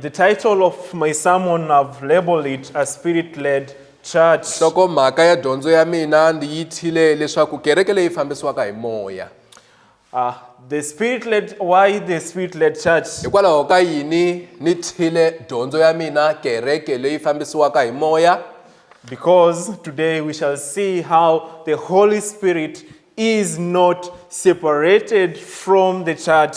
The title of my sermon, I've labeled it a spirit led church. nhlokomhaka ya dyondzo ya mina ndzi yi thyile leswaku kereke leyi fambisiwaka hi moya Uh, the spirit led, why the spirit led church? hikwalaho ka yini ni thyile dyondzo ya mina kereke leyi fambisiwaka hi moya Because today we shall see how the Holy Spirit is not separated from the church.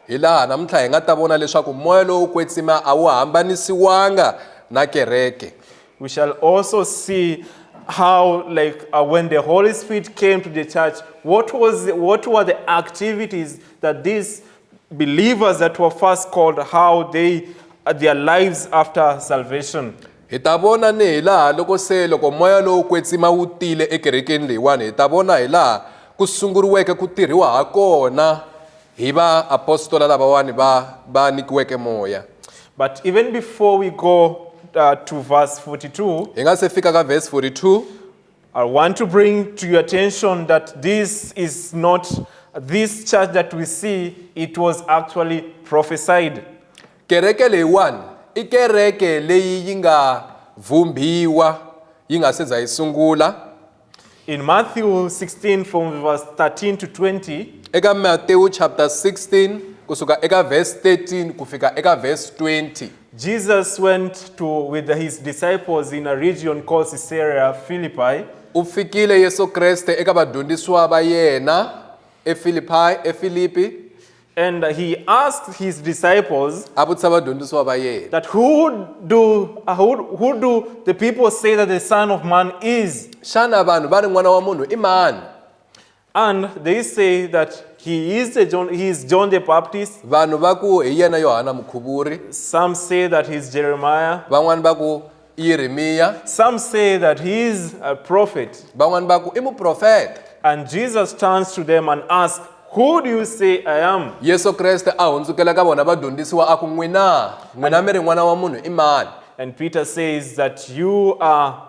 Hi laha namuntlha hi nga ta vona leswaku moya lowo kwetsima a wu hambanisiwanga na kereke. We shall also see how like uh, when the Holy Spirit came to the church, what was what were the activities that this believers that were first called, how they uh, their lives after salvation. hi ta vona ni hi laha loko se loko moya lowu kwetsima wu tile ekerekeni leyiwani hi ta vona hi laha ku sunguriweke ku tirhiwa ha kona hi vaapostola lavawani va va nyikiweke moya But even before we go uh, to verse 42, hi nga se fika ka verse 42 I want to bring to your attention that this is not this church that we see, it was actually prophesied. Kereke leyiwani i kereke leyi yi nga vumbiwa yi nga se za yi sungula. In Matthew 16 from verse 13 to 20. Eka Matthew chapter 16 kusuka eka verse 13 ku fika eka verse 20. Jesus went to with his disciples in a region called Caesarea Philippi. U fikile Yesu Kreste eka vadyondzisiwa va yena eFilipi eFilipi And he asked his disciples a vutisa vadyondzisiwa va yena that who do, uh, who, who do the people say that the Son of Man is? xana vanhu va ri n'wana wa munhu i mani And they say that he is, a John, he is John the Baptist. vanhu va ku hi yena yohana mukhuvuri Some say that he's Jeremiah. van'wani va ku i yeremiya Some say that he is a prophet. van'wani va ku i muprofeta And Jesus turns to them and asks, Who do you say I am? yesu kreste a hundzukela ka vona vadyondzisiwa a ku n'wina n'wina mi ri n'wana wa munhu i mani And Peter says that you are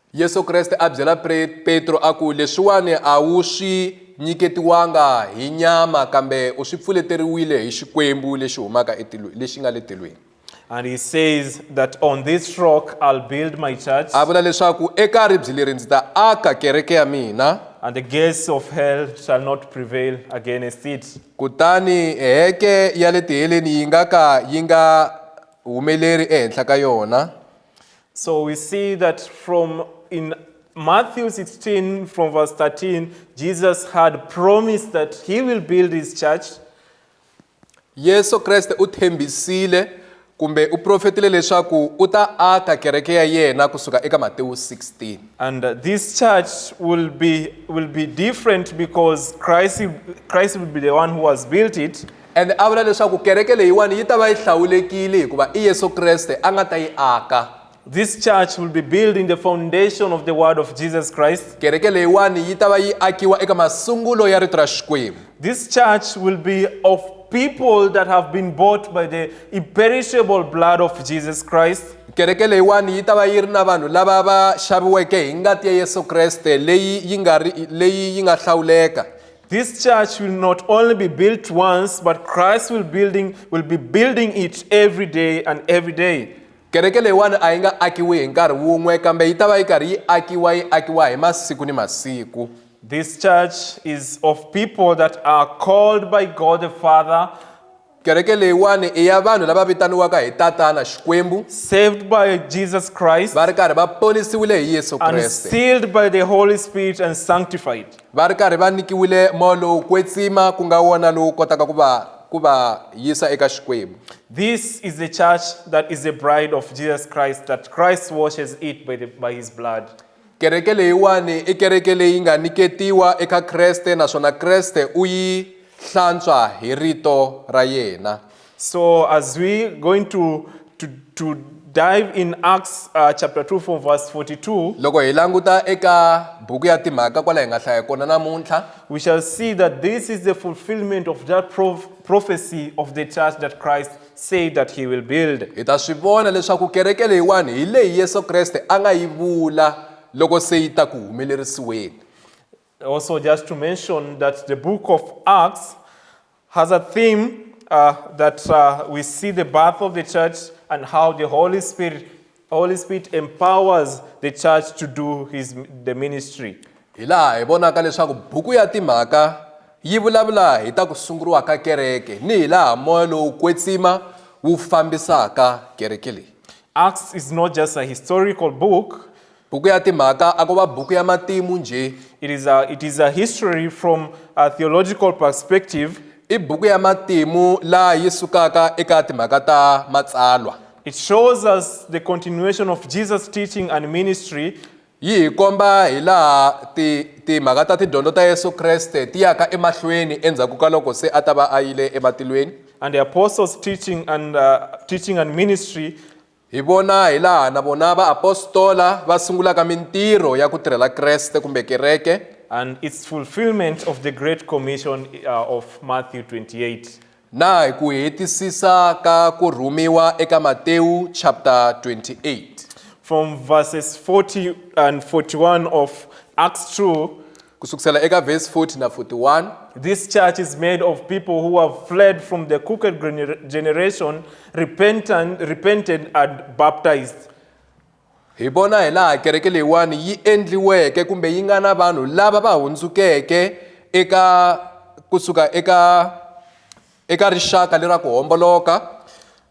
Yesu Kreste a byela Petro a ku, Leswiwani a wu swi nyiketiwanga hi nyama, kambe u swi pfuleteriwile hi Xikwembu lexi humaka etilweni, lexi nga le tilweni. And he says that on this rock I'll build my church. A vula leswaku eka ribye leri ndzi ta aka kereke ya mina. And the gates of hell shall not prevail against it. Kutani heke ya le tiheleni yi nga ka yi nga humeleri ehenhla ka yona. So we see that from in Matthew 16, from verse 13, Jesus had promised that he will build his church. Yesu Kriste u tshembisile kumbe u profetile leswaku u ta aka kereke ya yena kusuka eka Matewu 16. And uh, this church will be, will be different because Christ, Christ will be the one who has built it. Ende a vula leswaku kereke leyiwani yi ta va yi hlawulekile hikuva i Yesu Kreste a nga ta yi aka. This church will be built in the foundation of the word of Jesus Christ. Kereke leyiwani yi ta va yi akiwa eka masungulo ya rito ra Xikwembu. This church will be of people that have been bought by the imperishable blood of Jesus Christ. Kereke leyiwani yi ta va yi ri na vanhu lava va xaviweke hi ngati ya Yesu Kreste leyi yi nga ri leyi yi nga hlawuleka. This church will not only be built once, but Christ will, building, will be building it every day and every day. kereke leyiwani a yi nga akiwi hi nkarhi wun'we kambe yi ta va yi karhi yi akiwa yi akiwa hi masiku ni masiku This church is of people that are called by God the Father Kereke leyiwani i ya vanhu lava vitaniwaka hi Tatana Xikwembu, saved by Jesus Christ, va ri karhi va ponisiwile hi Yesu and Kreste, sealed by the Holy Spirit and sanctified. va ri karhi va nyikiwile moya lowo kwetsima ku nga wona lowu kotaka ku va ku va yisa eka Xikwembu. This is the church that is the bride of Jesus Christ, that Christ washes it by, the, by his blood. kereke leyiwani i kereke leyi nga niketiwa eka kreste naswona kreste u yi hlantswa hi rito ra yena so as we going to, to, to dive in acts uh, chapter 2 for verse 42 loko hi languta eka buku ya timhaka kwala hi nga hlaya kona namuntlha we shall see that this is the fulfillment of that prof prophecy of the church that christ said that he will build. hi ta swi vona leswaku kereke leyiwani hi leyi yesu kreste a nga yi vula loko se yi ta ku humelerisiweni Also, just to mention that the book of Acts has a theme uh, that uh, we see the birth of the church and how the Holy Spirit Holy Spirit empowers the church to do his the ministry. Hi laha hi vonaka leswaku buku ya timhaka yi vulavula hi ta ku sunguriwa ka kereke ni hi laha moya lowu kwetsima wu fambisaka kereke leyi. Acts is not just a historical book. Buku ya timhaka a ko va buku ya matimu njhe. It is a it is a history from a theological perspective. I buku ya matimu laha yi sukaka eka timhaka ta matsalwa. It shows us the continuation of Jesus' teaching and ministry yi hi komba hi laha ti timhaka ta tidyondzo ta Yesu Kreste ti yaka emahlweni endzhaku ka loko se a ta va a yile ematilweni and the apostles' teaching and uh, teaching and ministry hi vona hi laha na vona vaapostola va sungulaka mintirho ya ku tirhela Kreste kumbe kereke and its fulfillment of the great commission uh, of Matthew 28 Na hi ku hetisisa ka ku rhumiwa eka Matewu chapter 28. From verses 40 and 41 of Acts 2. Ku sukusela eka verse 40 na 41. This church is made of people who have fled from the crooked generation, repentant, repented and baptized. hi vona hi laha kereke leyiwani yi endliweke kumbe yi nga na vanhu lava va hundzukeke eka kusuka eka eka rixaka lera ku homboloka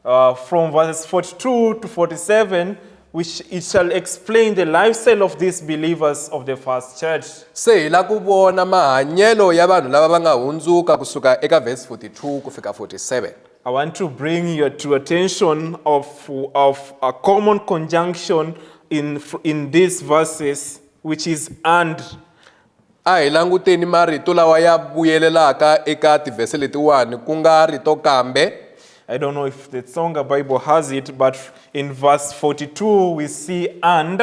uh, from verses 42 to 47 which it shall explain the lifestyle of these believers of the first church se hi la ku vona mahanyelo ya vanhu lava va nga hundzuka kusuka eka verse 42 ku fika 47 I want to bring you to attention of, of a common conjunction in, in these verses, which is and. a hi languteni marito lawa ya vuyelelaka eka tivhese letiwani ku nga rito kambe I don't know if the Tsonga Bible has it, but in verse 42 we see and.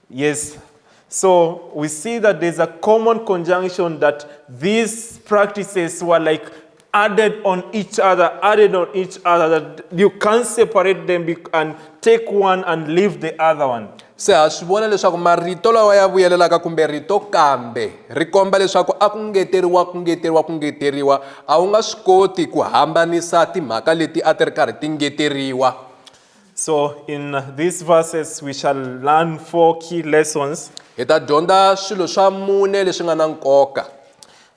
Yes. So we see that there's a common conjunction that these practices were like added on each other, added on each other, that you can't separate them and take one and leave the other one. se ha swi vona leswaku marito lawa ya vuyelelaka kumbe rito kambe ri komba leswaku a ku ngeteriwa ku ngeteriwa ku ngeteriwa a wu nga swi koti ku hambanisa timhaka leti a ti ri karhi ti ngeteriwa So in these verses we shall learn four key lessons. Hi ta dyondza swilo swa mune leswi nga na nkoka.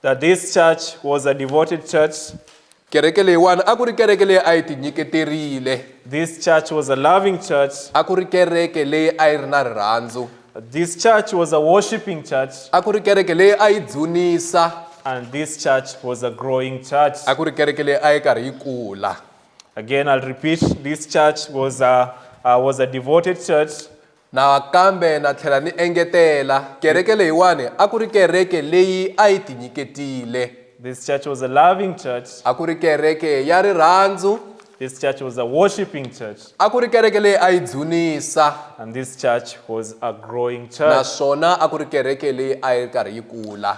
That this church was a devoted church. Kereke leyiwani a ku ri kereke leyi a yi tinyiketerile. This church was a loving church. A ku ri kereke leyi a yi ri na rirhandzu. This church was a worshiping church. A ku ri kereke leyi a yi dzunisa. And this church was a growing church. A ku ri kereke leyi a yi karhi yi kula. Again, I'll repeat this church was a, uh, was a devoted church. nakambe na tlhela ni engetela kereke leyiwani a ku ri kereke leyi a yi tinyiketile This church was a loving church. a ku ri kereke ya rirhandzu This church was a worshiping church. a ku ri kereke leyi a yi dzunisa And this church was a growing church. naswona a ku ri kereke leyi a yi ri karhi yi kula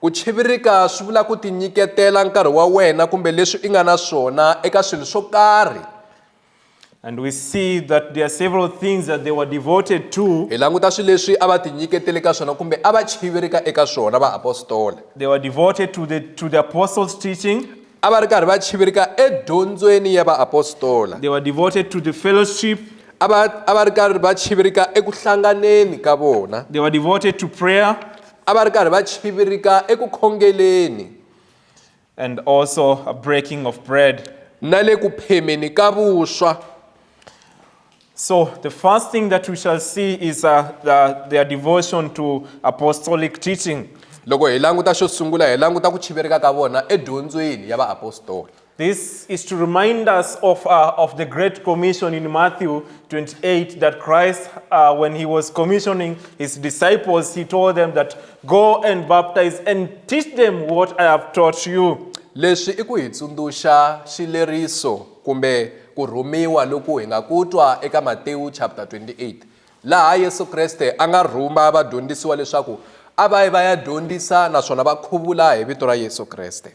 Ku chivirika swi vula ku tinyiketela nkarhi wa wena kumbe leswi i nga na swona eka swilo swo karhi. And we see that there are several things that they were devoted to. Hi languta swilo leswi a va tinyiketele ka swona kumbe a va chivirika eka swona vaapostole. They were devoted to the, to the apostles' teaching. A va ri karhi va chivirika edyondzweni ya vaapostola. They were devoted to the fellowship. A va a va ri karhi va chivirika eku hlanganeni ka vona. They were devoted to prayer. A va ri karhi va chivirika eku khongeleni. And also a breaking of bread. Na le ku phemeni ka vuswa. So the first thing that we shall see is uh, the, their devotion to apostolic teaching. Loko hi languta xo sungula hi languta ku chivirika ka vona edyondzweni ya vaapostoli. This is to remind us of, uh, of the Great Commission in Matthew 28 that Christ, uh, when he was commissioning his disciples, he told them that, Go and baptize and teach them what I have taught you. Leswi i ku hi tsundzuxa xileriso kumbe ku rhumiwa loku hi nga ku twa eka Matewu chapter 28 laha Yesu Kreste a nga rhuma vadyondzisiwa leswaku a va yi va ya dyondzisa naswona va khuvula hi vito ra Yesu Kreste.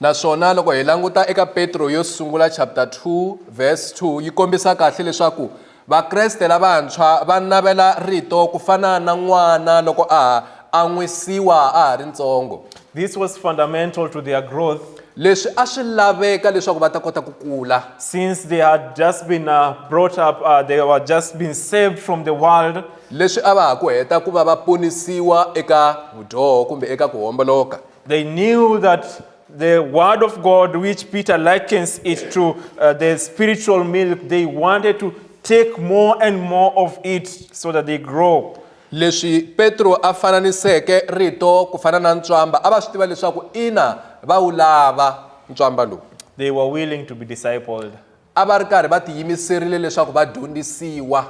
Naswona loko hi languta eka Petro yo sungula chapter 2 verse 2 yi kombisa kahle leswaku Vakreste lavantshwa va navela rito ku fana na n'wana loko a ha an'wisiwa a ha ri ntsongo. This was fundamental to their growth Leswi a swi laveka leswaku va ta kota ku kula. since they had just been uh, brought up, uh, they were just been saved from the world. Leswi a va ha ku heta ku va va ponisiwa eka vudyoho kumbe eka ku homboloka. They knew that the word of God, which Peter likens it to uh, the spiritual milk, they wanted to take more and more of it so that they grow. leswi petro a fananiseke rito ku fana na ntswamba a va swi tiva leswaku ina va wu lava ntswamba lowu They were willing to be discipled. a va ri karhi va tiyimiserile leswaku va dyondzisiwa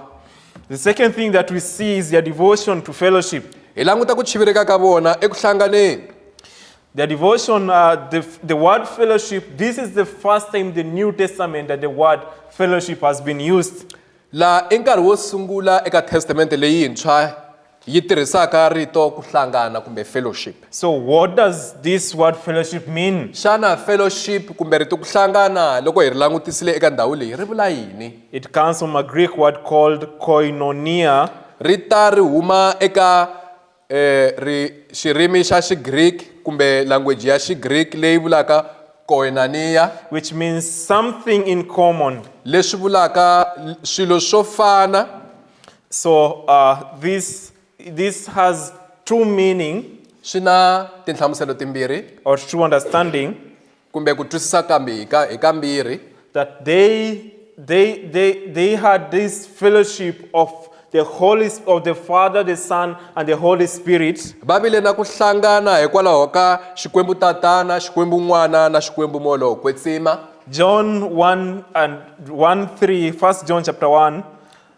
The second thing that we see is their devotion to fellowship. hi languta ku chivireka ka vona eku hlanganeni Their devotion, uh, the, the word fellowship, this is the first time the New Testament that the word fellowship has been used. laha i nkarhi wo sungula eka testamente leyintshwa Yi tirhisaka rito ku hlangana kumbe fellowship. So what does this word fellowship mean? Xana fellowship kumbe rito ku hlangana loko hi ri langutisile eka ndhawu leyi ri vula yini? It comes from a Greek word called koinonia. Ri ta ri huma eka eh, ri xirimi xa Xigriki kumbe language ya Xigriki leyi vulaka koinonia, which means something in common. leswi vulaka l- swilo swo fana. So uh, this, this has two meaning swi na tinhlamuselo timbirhi or two understanding kumbe ku twisisa kambe hi ka- hi kambirhi that they, they, they, they had this fellowship of the Holy, Sp- of the Father, the Son, and the Holy Spirit. va vile na ku hlangana hikwalaho ka xikwembu tatana xikwembu n'wana na xikwembu moya wo kwetsima John 1 and 1 3, 1 John chapter 1.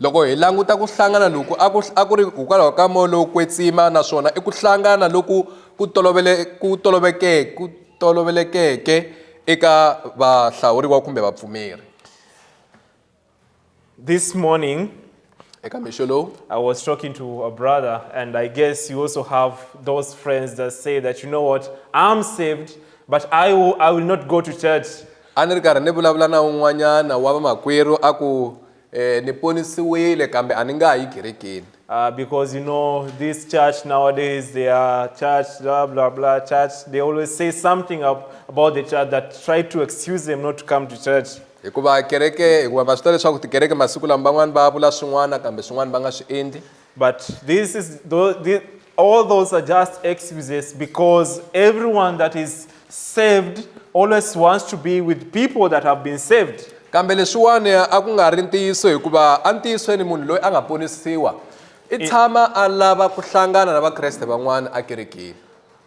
Loko hi languta ku hlangana loku a ku a ku ri hikwalaho ka moya lowo kwetsima naswona i ku hlangana loku ku tolovele ku toloveke ku tolovelekeke eka vahlawuriwa kumbe vapfumeri. This morning, Eka mixo lowu I was talking to a brother, and I guess you also have those friends that say that, you know what, I'm saved, but I will, I will not go to church. a ni ri karhi ni vulavula na un'wanyana wa vamakwerhu a ku Eh, ni ponisiwile kambe a ni nga ha yi kerekeni. Uh, because you know this church nowadays they are church blah blah blah church they always say something up about the church that try to excuse them not to come to church hikuva kereke hikuva va swi tiva leswaku tikereke masiku lama van'wani va vula swin'wana kambe swin'wana va nga swi endli But this is the, all those are just excuses because everyone that is saved always wants to be with people that have been saved. kambe leswiwani a ku nga ri ntiyiso hikuva entiyisweni munhu loyi a nga ponisiwa i tshama a lava ku hlangana na vakreste van'wana ekerekeni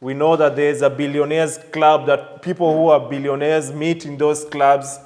We know that there is a billionaires club that people who are billionaires meet in those clubs.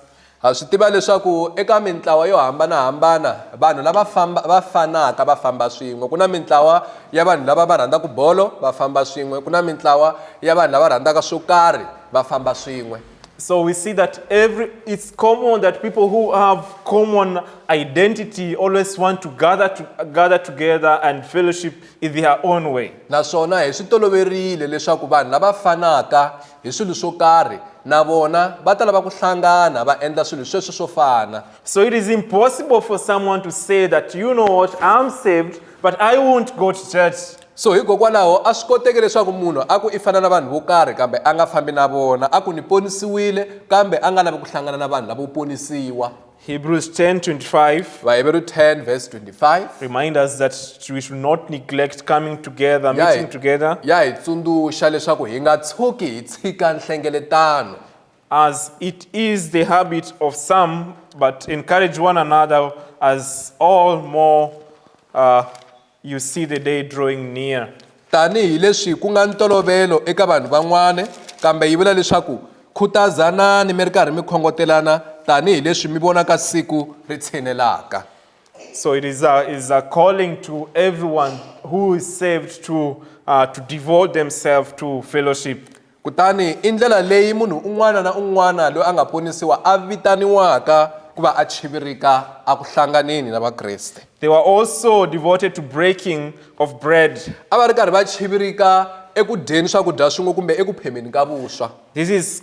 Ha swi tiva leswaku eka mintlawa yo hambanahambana vanhu lava famba va fanaka va famba swin'we ku na mintlawa ya vanhu lava va rhandzaka bolo va famba swin'we ku na mintlawa ya vanhu lava rhandzaka swo karhi va famba swin'we So we see that every it's common that people who have common identity always want to gather to gather together and fellowship in their own way. Naswona hi swi toloverile leswaku vanhu lava fanaka hi swilo swo karhi na vona va ta lava ku hlangana va endla swilo sweswo swo fana. So it is impossible for someone to say that, you know what, I'm saved, but I won't go to church. So hikokwalaho a swi koteki leswaku munhu a ku i fana na vanhu vo karhi kambe a nga fambi na vona, a ku ni ponisiwile kambe a nga lavi ku hlangana na vanhu lavo ponisiwa. Hebrews 10 25. Vaheberu 10 verse 25. Remind us that we should not neglect coming together, Ya meeting hi- together, ya hi tsundzuxa leswaku hi nga tshuki hi tshika nhlengeletano as it is the habit of some, but encourage one another as all more uh, You see the day drawing near. Tanihi leswi ku nga ntolovelo eka vanhu van'wana, kambe yi vula leswaku, Khutazanani mi ri karhi mi khongotelana tanihi leswi mi vonaka siku ri tshinelaka. So it is a, is a calling to everyone who is saved to, uh, to devote themselves to fellowship. Kutani i ndlela leyi munhu un'wana na un'wana loyi a nga ponisiwa a vitaniwaka ku va a chivirika eku hlanganeni na Vakreste. They were also devoted to breaking of bread. A va ri karhi va chivirika eku dyeni swakudya swin'we kumbe eku phemeni ka vuswa. This is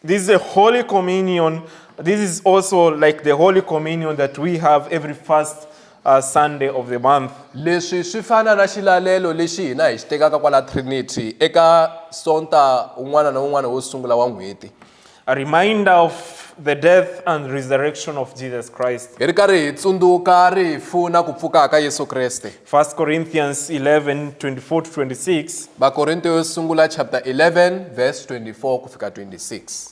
this is a holy communion. This is also like the holy communion that we have every first A Sunday of the month. Leswi swi fana na xilalelo lexi hina hi xi tekaka kwala Trinity eka Sonta un'wana na un'wana wo sungula wa n'hweti. A reminder of the death and resurrection of Jesus Christ. Hi ri karhi hi tsundzuka rifu na ku pfuka ka Yesu Kreste. 1 Corinthians 11, 24-26. Vakorinto yo sungula chapter 11 verse 24 ku fika 26.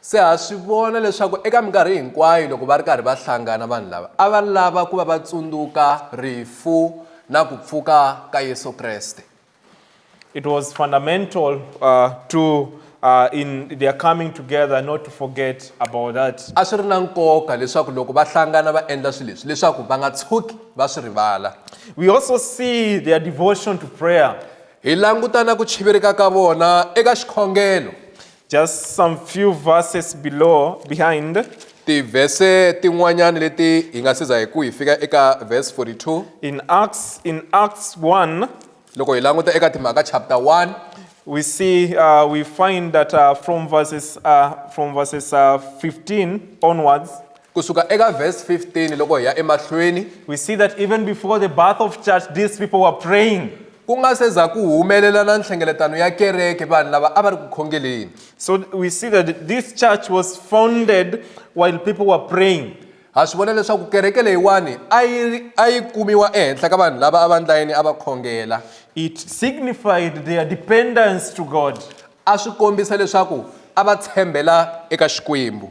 Se ha swi vona leswaku eka minkarhi hinkwayo loko va ri karhi va hlangana vanhu lava a va lava ku va va tsundzuka rifu na ku pfuka ka Yesu Kreste. It was fundamental uh, to uh, in their coming together not to forget about that. A swi ri na nkoka leswaku loko va hlangana va endla swilo leswi leswaku va nga tshuki va swi rivala. We also see their devotion to prayer. Hi langutana ku chivirika ka vona eka xikhongelo. Just some few verses below behind. tivhese tin'wanyana leti hi nga siza hi ku hi fika eka verse 42 In Acts, in Acts 1, loko hi languta eka timhaka chapter 1 we see, uh, we find that uh, from verses, uh, from verses uh, 15 onwards, Ku suka eka verse 15 loko hi ya emahlweni, we see that even before the birth of church, these people were praying. ku nga se za ku humelela na nhlengeletano ya kereke vanhu lava a va ri ku khongeleni. So we see that this church was founded while people were praying. Ha swi vona leswaku kereke leyiwani a yi ri- a yi kumiwa ehenhla ka vanhu lava a va ndlayini a va khongela. It signified their dependence to God. A swi kombisa leswaku a va tshembela eka Xikwembu.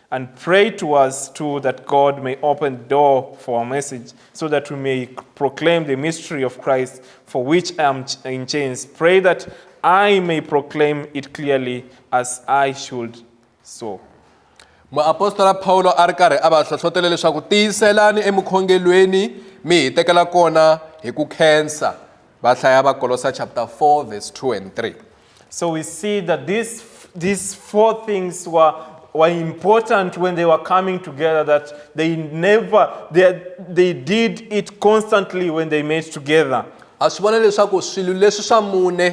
And pray to us too that God may open the door for our message, so that we may proclaim the mystery of Christ, for which I am in chains. Pray that I may proclaim it clearly as I should so. muapostola pawulo a ri karhi a va hlohlotele leswaku tiyiselani emukhongelweni mi hi tekela kona hi ku khensa va hlaya vakolosa chapter 4 verse 2 and 3 So we see that these, these four things were, were important when they were coming together, that they never, they, they did it constantly when they met together. ha swi vona leswaku swilo leswi swa mune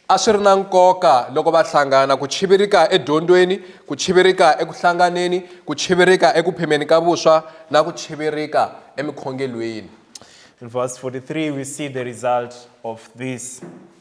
a swi ri na nkoka loko va hlangana ku chivirika edyondzweni ku chivirika eku hlanganeni ku chivirika eku phemeni ka vuswa na ku chivirika emikhongelweni In verse 43, we see the result of this.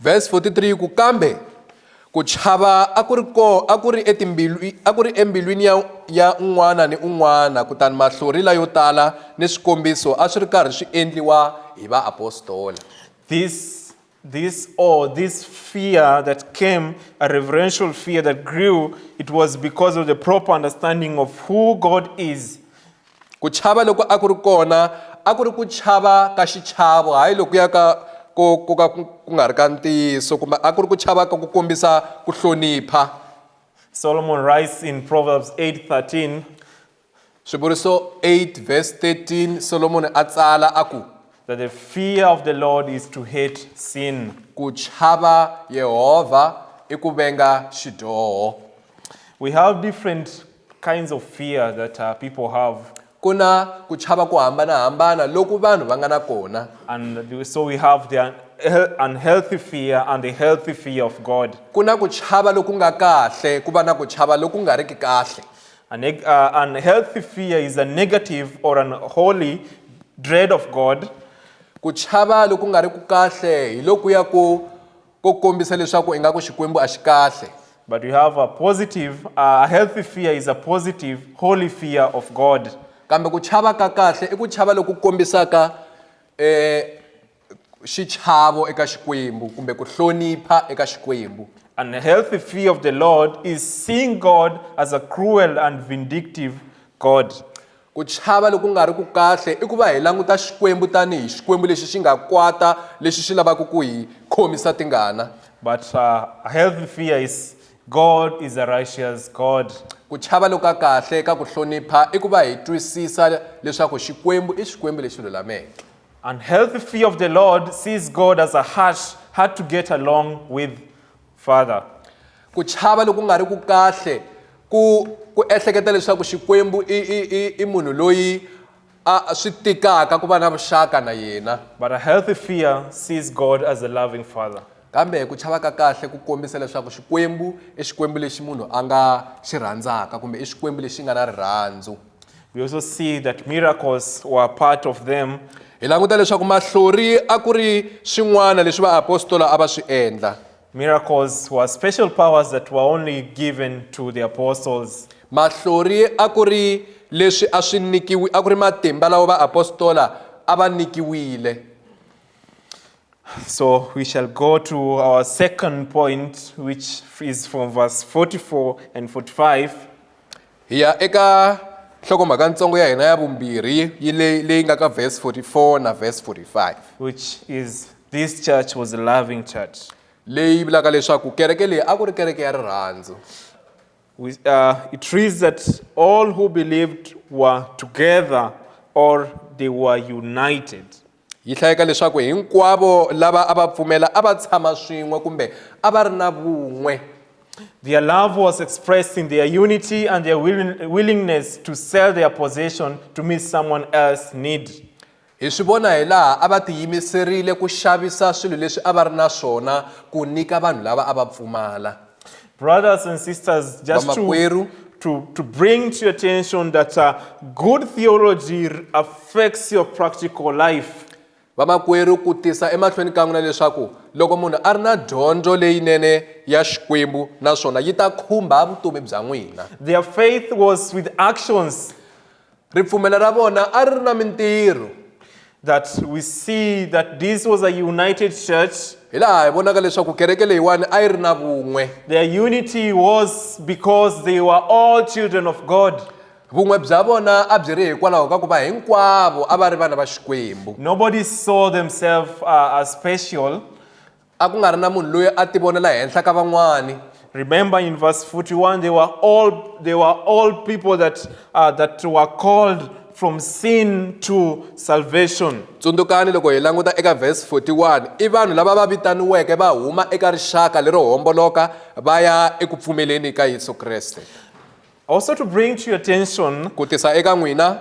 Verse 43 ku kambe ku chava a ku ri ko a ku ri etimbilwi a ku ri embilwini ya ya un'wana ni un'wana kutani mahlori layo tala ni swikombiso a swi ri karhi swi endliwa hi vaapostola this this or oh, this fear that came a reverential fear that grew it was because of the proper understanding of who god is Ku chava loku a ku ri kona a ku ri ku chava ka xichavo hayi lokuya ka ko ko ka ku nga ri ka ntiyiso kumbe a ku ri ku chava ka ku kombisa ku hlonipha Solomon writes in Proverbs 8:13 Swivuriso 8 verse 13 Solomon a tsala a ku that the fear of the Lord is to hate sin ku chava Yehova i ku venga xidyoho We have different kinds of fear that uh, people have. ku na ku chava ku hambanahambana loku vanhu va nga na kona And the- so we have the un- hel- unhealthy fear and the healthy fear of God. ku na ku chava loku nga kahle ku va na ku chava loku nga riki kahle A neg- uh, unhealthy fear is a negative or an holy dread of God. ku chava loku nga riki kahle hi lokuya ku ko kombisa leswaku ingaku Xikwembu a xi kahle. But we have a positive, a healthy fear is a positive, holy fear of God. Kambe ku chava ka kahle i ku chava loku kombisaka xichavo eka Xikwembu kumbe ku hlonipha eka Xikwembu. And a healthy fear of the Lord is seeing God as a cruel and vindictive God. Ku chava loku nga riki kahle i ku va hi languta Xikwembu tanihi Xikwembu lexi xi nga kwata lexi xi lavaka ku hi khomisa tingana. But a healthy fear is, God is a righteous God. Ku chava loku ka kahle ka ku hlonipha i ku va hi twisisa leswaku Xikwembu i Xikwembu lexi lulameke. Unhealthy fear of the Lord sees God as a harsh, hard to get along with Father, ku chava loku nga ri ku kahle ku ku ehleketa leswaku Xikwembu i i i i munhu loyi a swi tikaka ku va na vuxaka na yena. But a healthy fear sees God as a loving Father. Kambe ku chava ka kahle ku kombisa leswaku Xikwembu i Xikwembu lexi munhu a nga xi rhandzaka kumbe i Xikwembu lexi nga na rirhandzu. We also see that miracles were part of them. hi languta leswaku mahlori a ku ri swin'wana leswi vaapostola a va swi endla Miracles were special powers that were only given to the apostles. mahlori a ku ri leswi a swi nikiwi a ku ri matimba lawa vaapostola a va nikiwile So we shall go to our second point, which is from verse 44 and 45. hi ya eka nhlokomhaka ntsongo ya hina ya vumbirhi yi le- leyi nga ka verse 44 na verse 45 which is this church was a loving church. leyi vulaka leswaku kereke leyi a ku ri kereke ya rirhandzu We, uh, it reads that all who believed were together or they were united. yi hlayeka leswaku hinkwavo lava a va pfumela a va tshama swin'we kumbe a va ri na vun'we Their love was expressed in their unity and their willingness to sell their possession to meet someone else's need. hi swi vona hi laha a va tiyimiserile ku xavisa swilo leswi a va ri na swona ku nyika vanhu lava a va pfumala Brothers and sisters, just to, to, to bring to your attention that uh, good theology affects your practical life. vamakwerhu ku tisa emahlweni ka n'wina leswaku loko munhu a ri na dyondzo leyinene ya xikwembu naswona yi ta khumba vutomi bya n'wina their faith was with actions Ripfumelo ra vona a ri ri na mintirho. that we see that this was a united church. Hi laha hi vonaka leswaku kereke leyiwani a yi ri na vun'we. Their unity was because they were all children of God. Vun'we bya vona a byi ri hikwalaho ka ku va hinkwavo a va ri vana va Xikwembu. Nobody saw themselves uh, as special. A ku nga ri na munhu loyi a tivonela henhla ka van'wana. Remember in verse 41, they were all, they were all people that, uh, that were called from sin to salvation. Tsundzukani loko hi languta eka verse 41, i vanhu lava va vitaniweke va huma eka rixaka lero homboloka va ya eku pfumeleni ka Yesu Kreste. Also to bring to your attention ku tisa eka n'wina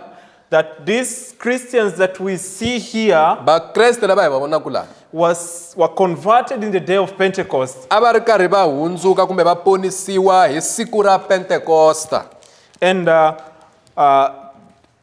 that these Christians that we see here vakreste lava hi va vonaka laha was were converted in the day of Pentecost. a va ri karhi va hundzuka kumbe va ponisiwa hi siku ra pentekosta And uh, uh,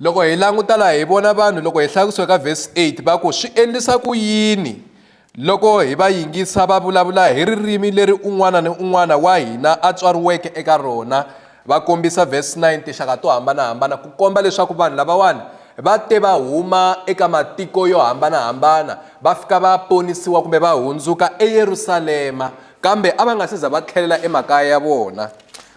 Loko hi languta laha hi vona vanhu loko hi hlaya kusuka ka vhesi 8 va ku swi endlisa ku yini loko hi va yingisa va vulavula hi ririmi leri un'wana ni un'wana wa hina a tswariweke eka rona va kombisa vhesi 9 tinxaka to hambanahambana ku komba leswaku vanhu lavawani va te va huma eka matiko yo hambanahambana va fika va ponisiwa kumbe va hundzuka eyerusalema kambe a va nga si za va tlhelela emakaya ya vona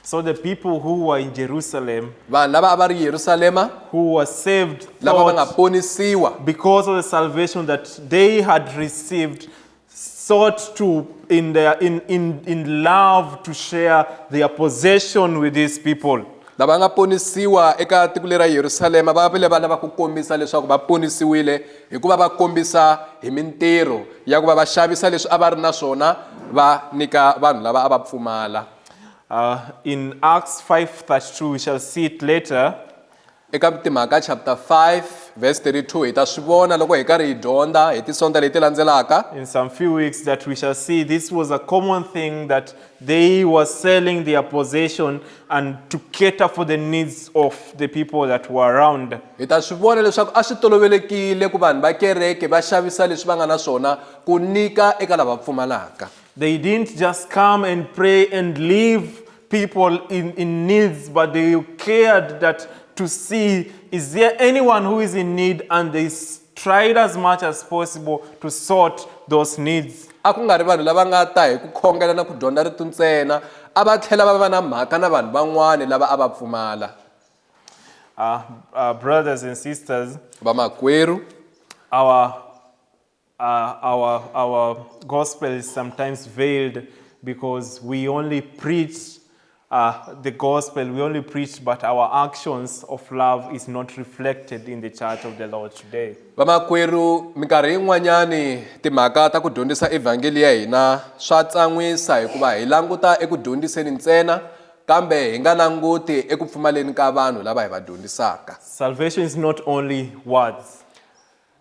So the people who were in Jerusalem, vanhu lava a va ri yerusalema who were saved, lava va nga thought ponisiwa because of the salvation that they had received, sought to, in, their, in, in, in love, to share their possession with these people. lava nga ponisiwa eka tiko lera yerusalema va vile va lava ku kombisa leswaku va ponisiwile hikuva va kombisa hi mintirho ya ku va va xavisa leswi a va ri na swona va nyika vanhu lava a va pfumala Uh, in Acts 5:32 we shall see it later. Eka Timhaka chapter 5 verse 32 hi ta swi vona loko hi karhi hi dyondza hi tisonta leti landzelaka. In some few weeks that we shall see this was a common thing that they were selling their possession and to cater for the needs of the people that were around. Hi ta swi vona leswaku a swi tolovelekile ku vanhu va kereke va xavisa leswi va nga na swona ku nyika eka lava pfumalaka. They didn't just come and pray and leave people in, in needs, but they cared that to see is there anyone who is in need and they tried as much as possible to sort those needs. a ku nga ri vanhu lava nga ta hi ku khongela na ku dyondza ritu ntsena a va tlhela va va na mhaka na vanhu van'wana lava a va pfumala uh, uh, brothers and sisters vamakwerhu our Uh, our, our gospel is sometimes veiled because we only preach uh, the gospel, we only preach, but our actions of love is not reflected in the church of the Lord today. vamakwerhu minkarhi yin'wanyani timhaka ta ku dyondzisa evhangeli ya hina swa tsan'wisa hikuva hi languta eku dyondziseni ntsena kambe hi nga languti eku pfumaleni ka vanhu lava hi va dyondzisaka salvation is not only words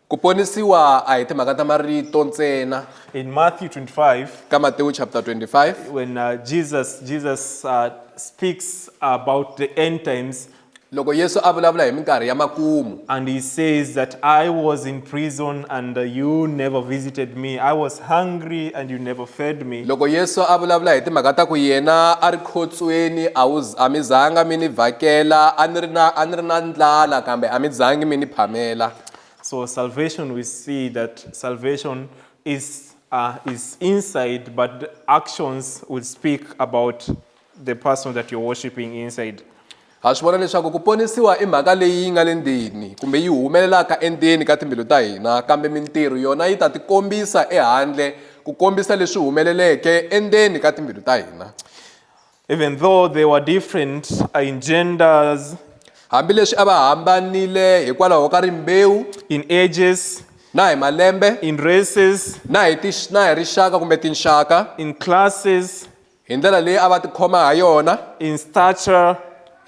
Ku ponisiwa a hi timhaka ta marito ntsena. In Matthew 25, Ka Matewu chapter 25, when uh, Jesus Jesus uh, speaks about the end times, loko Yesu a vulavula hi minkarhi ya makumu, and he says that I was in prison and uh, you never visited me. I was hungry and you never fed me. Loko Yesu a vulavula hi timhaka ta ku yena a ri khotsweni a wu a mi zanga mi ni vhakela a ni ri na a ni ri na ndlala kambe a mi zangi mi ni phamela. So salvation we see that salvation is uh, is inside but the actions will speak about the person that you're worshiping inside. ha swi vona leswaku ku ponisiwa i mhaka leyi yi nga le ndzeni kumbe yi humelelaka endzeni ka timbilu ta hina kambe mintirho yona yi ta tikombisa ehandle ku kombisa leswi humeleleke endzeni ka timbilu ta hina Even though they were different uh, in genders, hambileswi a va hambanile hikwalaho ka rimbewu in ages, na hi malembe in races, na hi tix- na hi rixaka kumbe tinxaka in classes, hi ndlela leyi a va tikhoma ha yona in stature,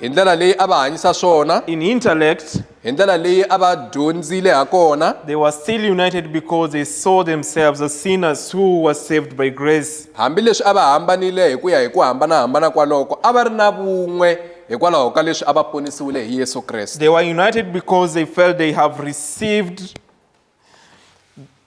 hi ndlela leyi a va hanyisa swona in intellect, hi ndlela leyi a va dyondzile ha kona they were still united because they saw themselves as sinners who were saved by grace. hambileswi a va hambanile hi ku ya hi ku hambana-hambana kwaloko a va ri na vun'we hikwalaho ka leswi a va ponisiwile hi yesu kreste They were united because they felt they have received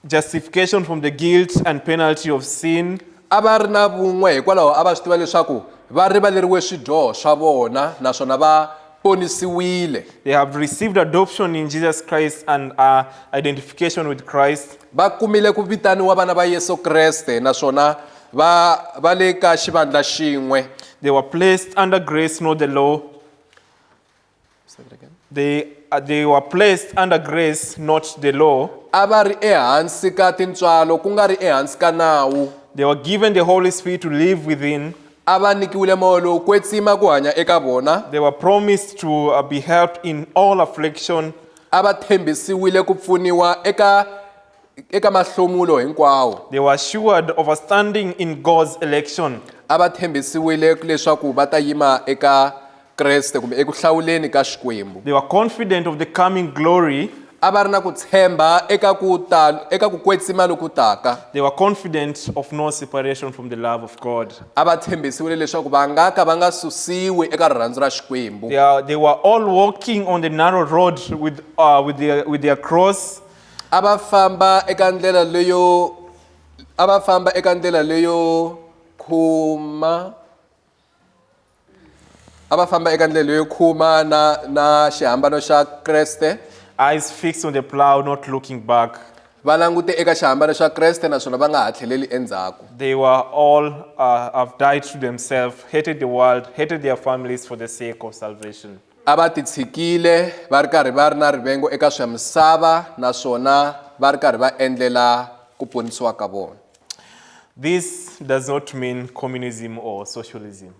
justification from the guilt and penalty of sin. A va ri na vun'we hikwalaho a va swi tiva leswaku va rivaleriwe swidyoho swa vona naswona va ponisiwile. They have received adoption in Jesus Christ and uh, identification with Christ. Va kumile ku vitaniwa vana va Yesu Kreste naswona va va le ka xivandla xin'we. They were placed under grace, not the law. Say it again. They, uh, they were placed under grace, not the law. a va ri ehansi ka tintswalo ku nga ri ehansi ka nawu They were given the Holy Spirit to live within. a va nyikiwile moya lowu kwetsima ku hanya eka vona They were promised to uh, be helped in all affliction a va tshembisiwile ku pfuniwa eka eka mahlomulo hinkwawo They were assured of a standing in God's election. a va tshembisiwile leswaku va ta yima eka kreste kumbe eku hlawuleni ka xikwembu They were confident of the coming glory. a va ri na ku tshemba eka ku ta eka ku kwetsima loku taka They were confident of no separation from the love of God. a va tshembisiwile leswaku va nga ka va nga susiwi eka rirhandzu ra xikwembu They, are, they were all walking on the narrow road with, uh, with, their, with their cross. a va famba eka ndlela leyo a va famba eka ndlela leyo khuma a va famba eka ndlela leyo khuma na na xihambano xa kreste eyes fixed on the plow not looking back va langute eka xihambano xa kreste naswona va nga ha tlheleli endzhaku they were all uh, have died to themselves hated the world hated their families for the sake of salvation A va titshikile va ri karhi va ri na rivengo eka swa misava naswona va ri karhi va endlela ku ponisiwa ka vona. This does not mean communism or socialism.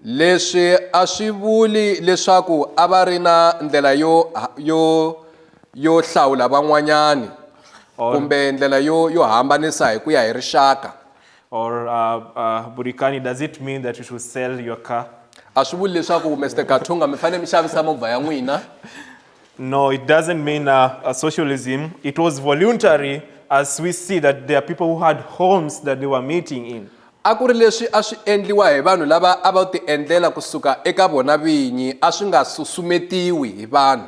Leswi a swi vuli leswaku a va ri na ndlela yo yo yo hlawula van'wanyani kumbe ndlela yo yo hambanisa hi ku ya hi rixaka. or uh, uh, burikani does it mean that you should sell your car a swi vuli leswaku mr kathunga mi fanele mi xavisa movha ya n'wina no it doesn't mean uh, uh, socialism it was voluntary as we see that there are people who had homes that they were meeting in a ku ri leswi a swi endliwa hi vanhu lava a va tiendlela kusuka eka vona vinyi a swi nga susumetiwi hi vanhu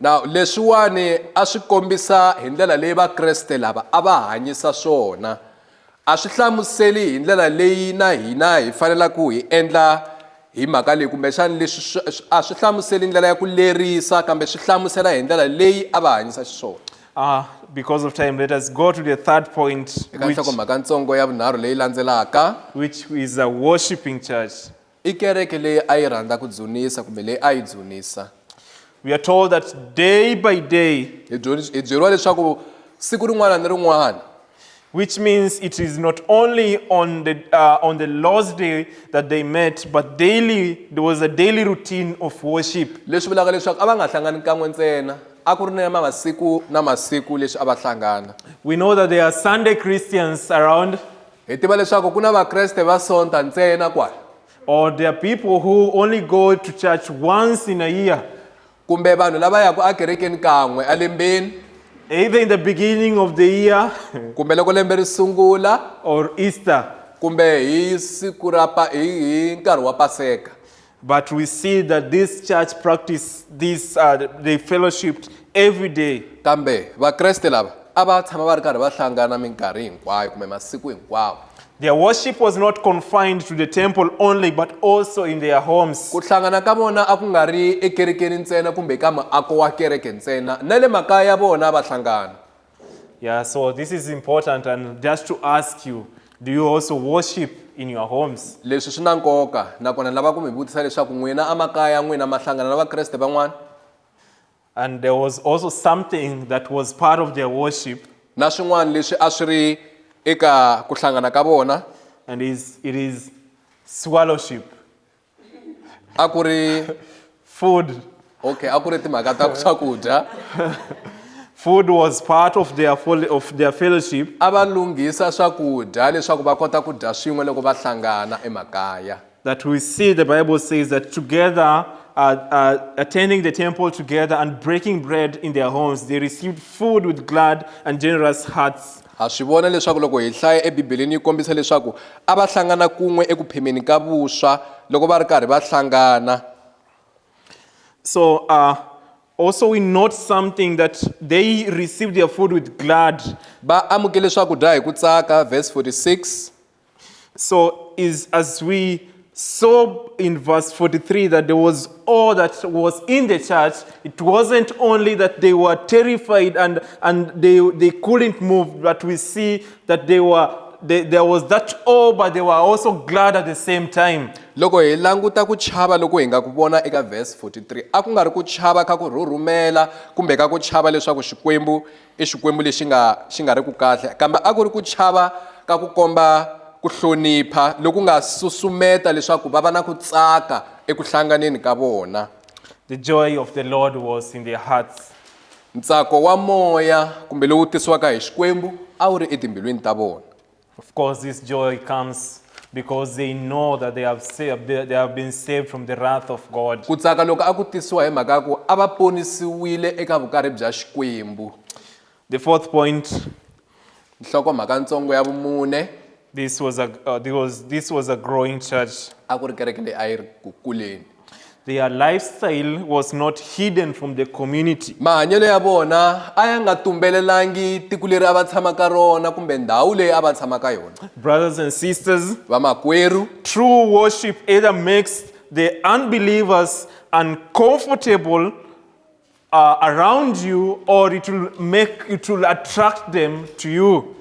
na leswiwani a swi kombisa hi ndlela leyi vakreste lava a va hanyisa swona a swi hlamuseli hi ndlela leyi na hina hi fanelaka hi endla hi mhaka leyi kumbexani leswi a swi hlamuseli ndlela ya ku lerisa kambe swi hlamusela hi ndlela leyi a va hanyisa xiswona Uh, because of time, let us go to the third point, eka which, nhlokomhaka ntsongo ya vunharhu leyi landzelaka which is a worshipping church. I kereke leyi a yi rhandza ku dzunisa kumbe leyi a yi dzunisa. We are told that day by day. Hi byeriwa leswaku siku rin'wana ni rin'wana. Which means it is not only on the uh, on the Lord's day that they met, but daily there was a daily routine of worship. Leswi vulaka leswaku a va nga hlangani kan'we ntsena a ku ri na masiku na masiku leswi a va hlangana. We know that there are Sunday Christians around. Hi tiva leswaku ku na Vakreste va Sonta ntsena kwala. Or there are people who only go to church once in a year. Kumbe vanhu lava yaka ekerekeni kan'we elembeni. Either in the beginning of the year. Kumbe loko lembe ri sungula. Or Easter. Kumbe hi siku ra hi hi nkarhi wa Paseka. But we see that this church practice this, uh, they fellowshipped every day. kambe vakreste lava a va tshama va ri karhi va hlangana minkarhi hinkwayo kumbe masiku hinkwawo Their worship was not confined to the temple only, but also in their homes. ku hlangana ka vona a ku nga ri ekerekeni ntsena kumbe ka muako wa kereke ntsena na le makaya ya vona va hlangana Yeah, so this is important and just to ask you, do you also worship in your homes? leswi swi na nkoka nakona ni lava ku mi vutisa leswaku n'wina emakaya n'wina ma hlangana na vakreste van'wana And there was also something that was part of their worship na swin'wana leswi a swi ri eka ku hlangana ka vona and is it is swallowship. a ku ri food okay a ku ri timhaka ta swakudya food was part of their, of their fellowship a va lunghisa swakudya leswaku va kota ku dya swin'we loko va hlangana emakaya that we see the bible says that together uh, uh, attending the temple together and breaking bread in their homes they received food with glad and generous hearts Ha swi vona leswaku loko hi hlaya eBibeleni yi kombisa leswaku a va hlangana kun'we eku phemeni ka vuswa loko va ri karhi va hlangana. So uh, also we note something that they received their food with glad. Va amukele swakudya hi ku tsaka, verse 46. So is as we saw in verse 43 that there was all that was in the church. It wasn't only that they were terrified and, and they, they couldn't move, but we see that they were they, there was that awe, but they were also glad at the same time. loko hi languta ku chava loko hi nga ku vona eka verse 43 a ku nga ri ku chava ka ku rhurhumela kumbe ka ku chava leswaku xikwembu I Xikwembu lexi nga xi nga ri ku kahle, kambe a ku ri ku chava ka ku komba ku hlonipha loku nga susumeta leswaku va va na ku tsaka eku hlanganeni ka vona. The joy of the Lord was in their hearts. Ntsako wa moya kumbe lowu tisiwaka hi Xikwembu a wu ri etimbilwini ta vona. Of course, this joy comes because they know that they have, saved, they have been saved from the wrath of God. Ku tsaka loko a ku tisiwa hi mhaka ya ku a va ponisiwile eka vukari bya Xikwembu. The fourth point. Nhlokomhaka ntsongo ya vumune. This was a, uh, this was, this was a growing church. A ku ri kereke leyi a yi ri ku kuleni. Their lifestyle was not hidden from the community. mahanyelo ya vona a ya nga tumbelelangi tiko leri a va tshama ka rona kumbe ndhawu leyi a va tshama ka yona Brothers and sisters, vamakwerhu true worship either makes the unbelievers uncomfortable uh, around you or it will make it will attract them to you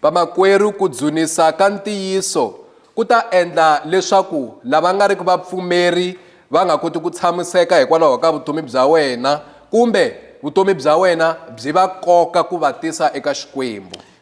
vamakwerhu ku dzunisa ka ntiyiso ku ta endla leswaku lava nga riki vapfumeri va nga koti ku tshamiseka hikwalaho ka vutomi bya wena kumbe vutomi bya wena byi va koka ku va tisa eka xikwembu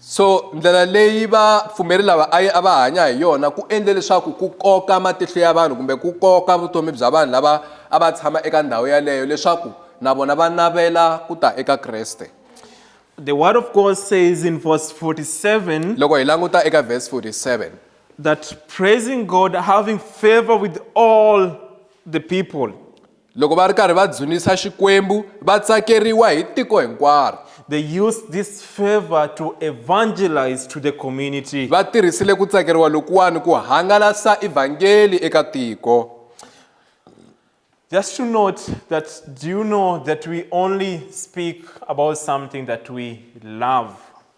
So ndlela leyi vapfumeri lava a a va hanya hi yona ku endle leswaku ku koka matihlo ya vanhu kumbe ku koka vutomi bya vanhu lava a va tshama eka ndhawu yaleyo leswaku na vona va navela ku ta eka Kreste. The word of God says in verse 47 Loko hi languta eka verse 47 that praising God, having favor with all the people. Loko va ri karhi va dzunisa Xikwembu, va tsakeriwa hi tiko hinkwaro. They used this favor to evangelize to the community. Va tirhisile ku tsakeriwa lokuwani ku hangalasa Evhangeli eka tiko. Just to note that, do you know that we only speak about something that we love?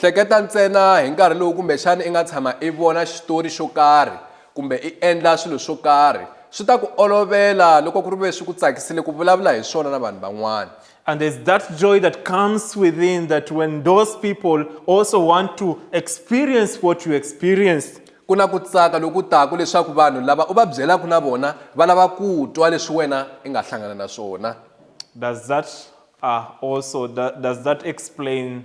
Hleketa ntsena hi nkarhi lowu kumbexana i nga tshama i vona xitori xo karhi kumbe i endla swilo swo karhi. Swi ta ku olovela loko ku ri ve swi ku tsakisile ku vulavula hi swona na vanhu van'wana. And there's that joy that comes within that when those people also want to experience what you experienced. Ku na ku tsaka loku taka leswaku vanhu lava u va byelaka na vona va lava ku twa leswi wena i nga hlangana na swona. Does that uh, also does that explain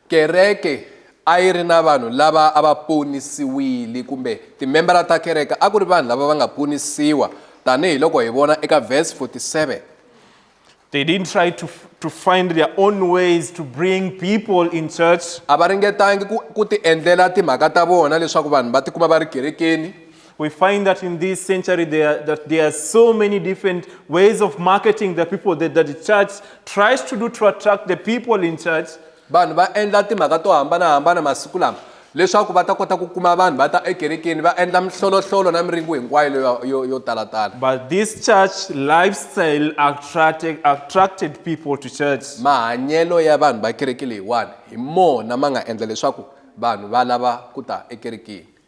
Kereke a yi ri na vanhu lava a va ponisiwile kumbe timembara ta kereke a ku ri vanhu lava va nga ponisiwa tanihi loko hi vona eka verse 47. They didn't try to, to find their own ways to bring people in church. A va ringetangi ku, ku ti endlela timhaka ta vona leswaku vanhu va tikuma va ri kerekeni. We find that in this century there, that there are so many different ways of marketing the people that, that the church tries to do to attract the people in church. vanhu va endla timhaka to hambanahambana masiku lama leswaku va ta kota ku kuma vanhu va ta ekerekeni va endla mihlolohlolo na miringo hinkwayo leyo- yo yo talatala But this church lifestyle attracted, attracted people to church. mahanyelo ya vanhu va kereke leyiwani hi mona ma nga endla leswaku vanhu va lava ku ta ekerekeni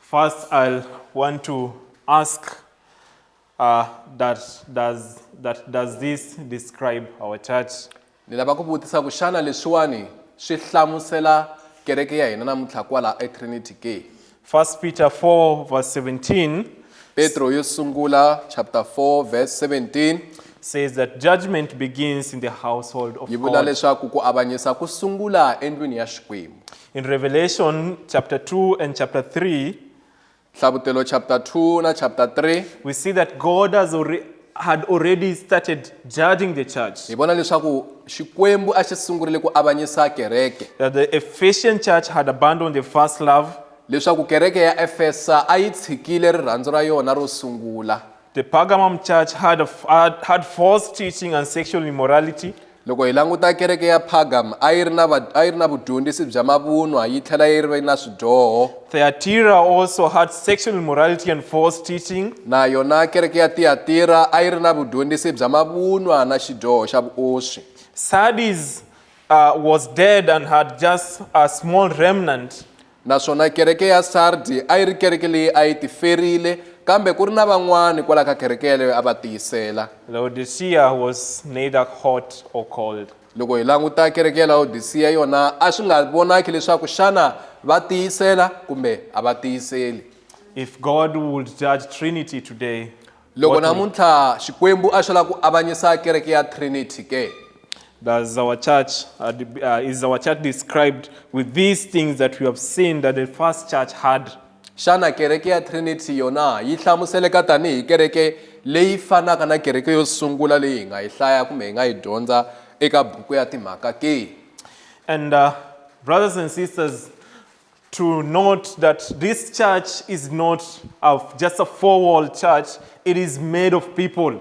First, I'll want to ask uh, that, does, that does this describe our church? ni lava ku vutisa ku xana leswiwani swi hlamusela kereke ya hina namuntlha kwala etrinity ke First Peter 4 verse 17 petro yo sungula chapter 4 verse 17 says that judgment begins in the household of yi vula God. leswaku ku avanyisa ku sungula endlwini ya xikwembu In Revelation chapter 2 and chapter 3, Hlavutelo chapter 2 na chapter 3 we see that God has already, had already started judging the church. hi vona leswaku Xikwembu a xi sungurile ku avanyisa kereke That the Ephesian church had abandoned the first love, leswaku kereke ya Efesa a yi tshikile rirhandzu ra yona ro sungula. The Pergamum church had, a, had, had false teaching and sexual immorality. loko hi languta kereke ya pagam a yi ri na va- a yi ri na vudyondzisi bya mavunwa yi tlhela yi ri na swidyoho Thyatira also had sexual immorality and false teaching. na yona kereke ya tiyatira a yi ri na vudyondzisi bya mavunwa na xidyoho xa vuoswi Sardis uh, was dead and had just a small remnant. Naswona kereke ya Sardi a yi ri kereke leyi a yi tiferile, kambe ku ri na van'wana kwala ka kereke yaleyo a va tiyisela. Laodicea was neither hot or cold. Loko hi languta kereke ya Laodicea, yona a swi nga vonaki leswaku xana va tiyisela kumbe a va tiyiseli. If God would judge Trinity today, Loko namuntlha Xikwembu a xi lava ku avanyisa kereke ya Trinity ke? Does our church, uh, uh, is our church described with these things that we have seen that the first church had? Xana kereke ya Trinity yona yi hlamuseleka tanihi kereke leyi fanaka na kereke yo sungula leyi hi nga yi hlaya kumbe hi nga yi dyondza eka buku ya timhaka ke? And uh, brothers and sisters, to note that this church is not a, just a four wall church, it is made of people.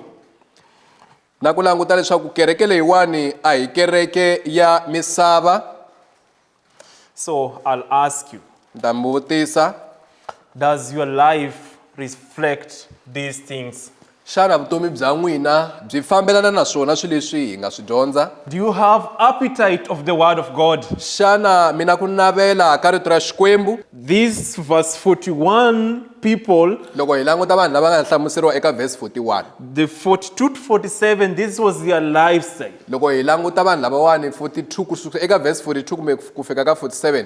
na ku languta leswaku kereke leyiwani a hi kereke ya misava So I'll ask you ni ta mi vutisa Does your life reflect these things? Xana vutomi bya n'wina byi fambelana na swona swilo leswi hi nga swi dyondza? Do you have appetite of the word of God? Xana mi na ku navela ka rito ra Xikwembu? This verse 41 people, Loko hi languta vanhu lava nga hlamuseriwa eka verse 41, the 42 to 47, this was their lifestyle. loko hi languta vanhu lavawani 42 ku suka eka verse 42 kumbe ku fika ka 47,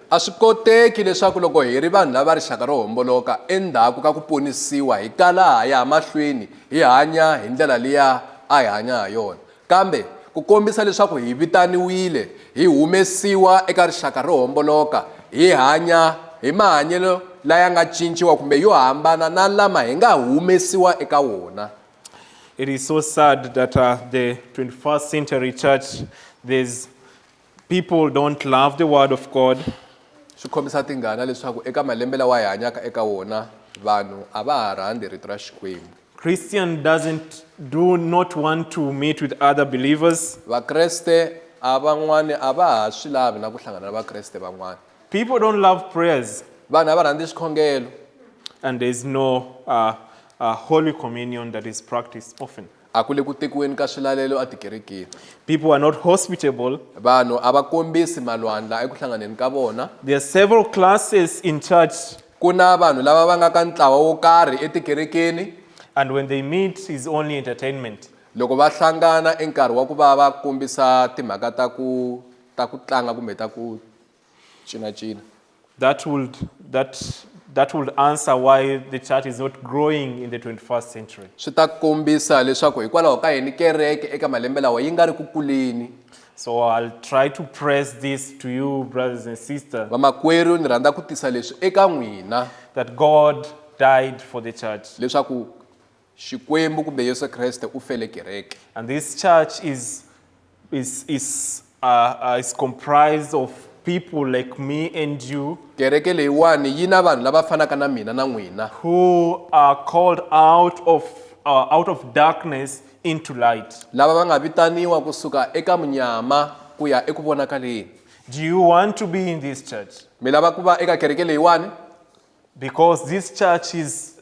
A swi koteki leswaku loko hi ri vanhu lava rixaka ro homboloka, endzhaku ka ku ponisiwa hi kala ha ya mahlweni hi hanya hi ndlela liya a hi hanya ha yona. Kambe, ku kombisa leswaku hi vitaniwile hi humesiwa eka rixaka ro homboloka hi hanya hi mahanyelo laya nga cinciwa kumbe yo hambana na lama hi nga humesiwa eka wona. It is so sad that uh, the 21st century church, there's People don't love the word of God. swi khomisa tingana leswaku eka malembe lawa hi hanyaka eka wona vanhu a va ha rhandzi rito ra xikwembu Christian doesn't do not want to meet with other believers. vakreste a van'wani a va ha swi lavi na ku hlangana na vakreste van'wana People don't love prayers, vanhu a va rhandzi xikhongelo and there's no uh, uh, Holy Communion that is practiced often. A ku le ku tekiweni ka swilalelo etikerekeni. People are not hospitable. Vanhu a va kombisi malwandla eku hlanganeni ka vona. There are several classes in church. Ku na vanhu lava va nga ka ntlawa wo karhi etikerekeni. And when they meet is only entertainment. Loko va hlangana i nkarhi wa ku va va kombisa timhaka ta ku ta ku tlanga kumbe ta ku China China. That would, that, that would answer why the church is not growing in the 21st century. Swi ta kombisa leswaku hikwalaho ka yini kereke eka malembe lawa yi nga ri ku kuleni. So I'll try to press this to you brothers and sisters. Vamakwerhu ni rhandza ku tisa leswi eka n'wina. That God died for the church. Leswaku Xikwembu kumbe Yesu Kreste u fele kereke. And this church is is is uh, uh, is comprised of people like me and you Kereke leyiwani yi na vanhu lava fanaka na mina na n'wina who are called out of uh, out of darkness into light. lava va nga vitaniwa kusuka eka munyama ku ya eku vonakaleni. Do you want to be in this church? Mi lava ku va eka kereke leyiwani? Because this church is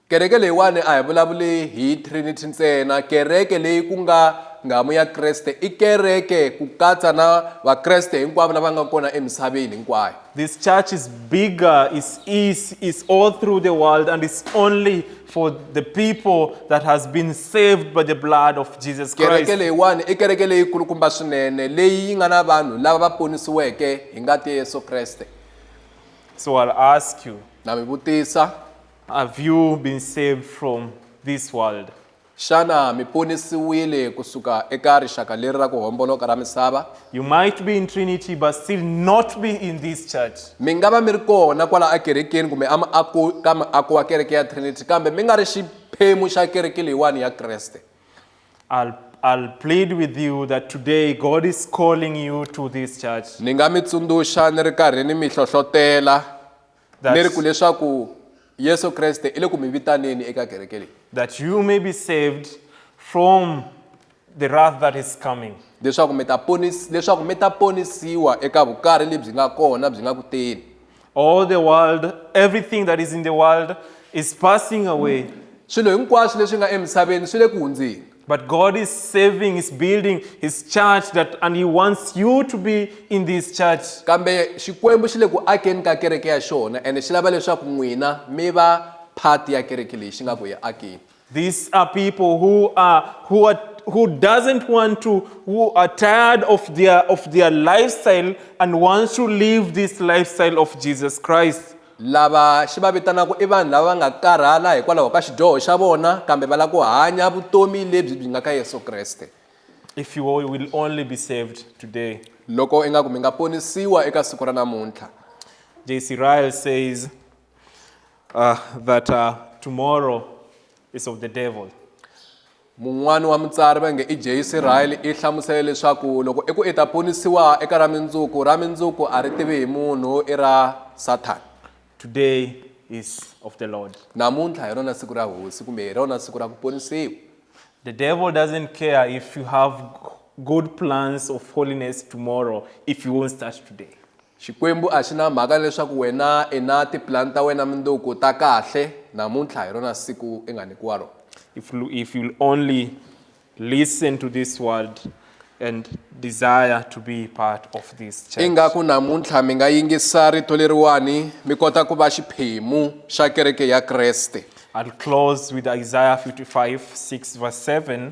Kereke leyiwani a hi vulavuli hi Trinity ntsena. Kereke leyi ku nga nghamu ya Kreste i kereke ku katsa na Vakreste hinkwavo lava nga kona emisaveni hinkwayo. This church is bigger, is is is all through the world and it's only for the people that has been saved by the blood of Jesus Kereke Christ. leyiwani i kereke leyi kulukumba swinene leyi yi nga na vanhu lava va ponisiweke hi ngati ya Yesu Kreste. So I'll ask you, Na mi vutisa, Have you been saved from this world? Xana mi ponisiwile kusuka eka rixaka leri ra ku homboloka ra misava? You might be in Trinity but still not be in this church. Mi nga va mi ri kona kwala akerekeni kumbe amaako ka maako wa kereke ya Trinity kambe mi nga ri xiphemu xa kereke leyiwani ya Kreste. I'll, I'll plead with you that today God is calling you to this church. Ni nga mi tsundzuxa ni ri karhi ni mi hlohlotela That's, ku leswaku Yesu Kreste i le ku mi vitaneni eka kereke leyi. That you may be saved from the wrath that is coming. Leswaku mi ta ponis leswaku mi ta ponisiwa eka vukari lebyi nga kona byi nga ku teni. All the world, everything that is in the world is passing away. Swilo hinkwaswo leswi nga emisaveni swi le ku hundzeni. But God is saving, is building his church that and he wants you to be in this church. kambe xikwembu xi le ku akeni ka kereke ya xona ene xi lava leswaku n'wina mi va phati ya kereke leyi xi nga ku hi akeni These are people who are who are who doesn't want to who are tired of their of their lifestyle and wants to live this lifestyle of Jesus Christ. Lava xi va vitanaka i vanhu lava va nga karhala hikwalaho ka xidyoho xa vona kambe va lava ku hanya vutomi lebyi byi nga ka Yesu Kreste. If you will only be saved today. Loko ingaku mi nga ponisiwa eka siku ra namuntlha. JC Ryle says uh, that uh, tomorrow is of the devil. Mun'wana wa mutsari va nge i J. Searle i hlamusele leswaku loko eku i ta ponisiwa eka ra mindzuku, ra mindzuku a ri tivi hi munhu, i ra Sathana. Today is of the Lord. Namuntlha hi rona siku ra Hosi kumbe hi rona siku ra ku ponisiwa. The devil doesn't care if you have good plans of holiness tomorrow if he won't start today. Xikwembu a xi na mhaka ni leswaku wena i na tipulani ta wena mundzuku ta kahle. Namuntlha hi rona siku i nga nyikiwa rona. If, if you'll only listen to this word and desire to be part of this church. Ingaku namuntlha mi nga yingisa rito leriwani mi kota ku va xiphemu xa kereke ya Kreste. I'll close with Isaiah 55, 6 verse 7.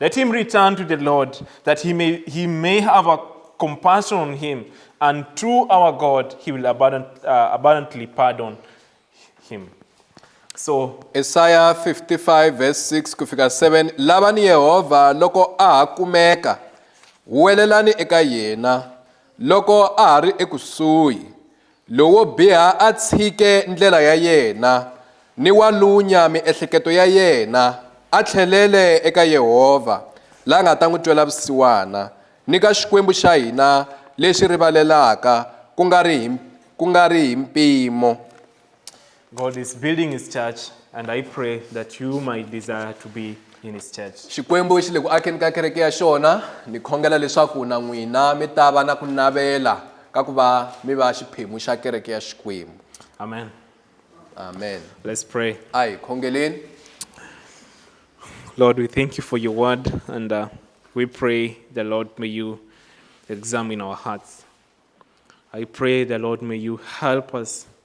Let him return to the Lord, that he may, he may have a compassion on him, and through our God he will abundant, uh, abundantly pardon him. So, Isaiah 55 verse 6 kufika 7 lavani Yehova loko a ha kumeka huwelelani eka yena loko a ha ri ekusuhi Lowo biha a tshike ndlela ya yena, ni wa lunya miehleketo ya yena, a tlhelele eka Yehovha, la nga ta n'wi twela vusiwana, ni ka Xikwembu xa hina lexi rivalelaka ku nga ri hi, ku nga ri hi mpimo. God is building his church, and I pray that you might desire to be in his church. xikwembu xi le ku akeni ka kereke ya xona ni khongela leswaku na n'wina mi ta va na ku navela ka ku va mi va xiphemu xa kereke ya xikwembu Amen. amen Let's pray. a hi khongeleni Lord, we thank you for your word, and uh, we pray the Lord may you examine our hearts. I pray the Lord may you help us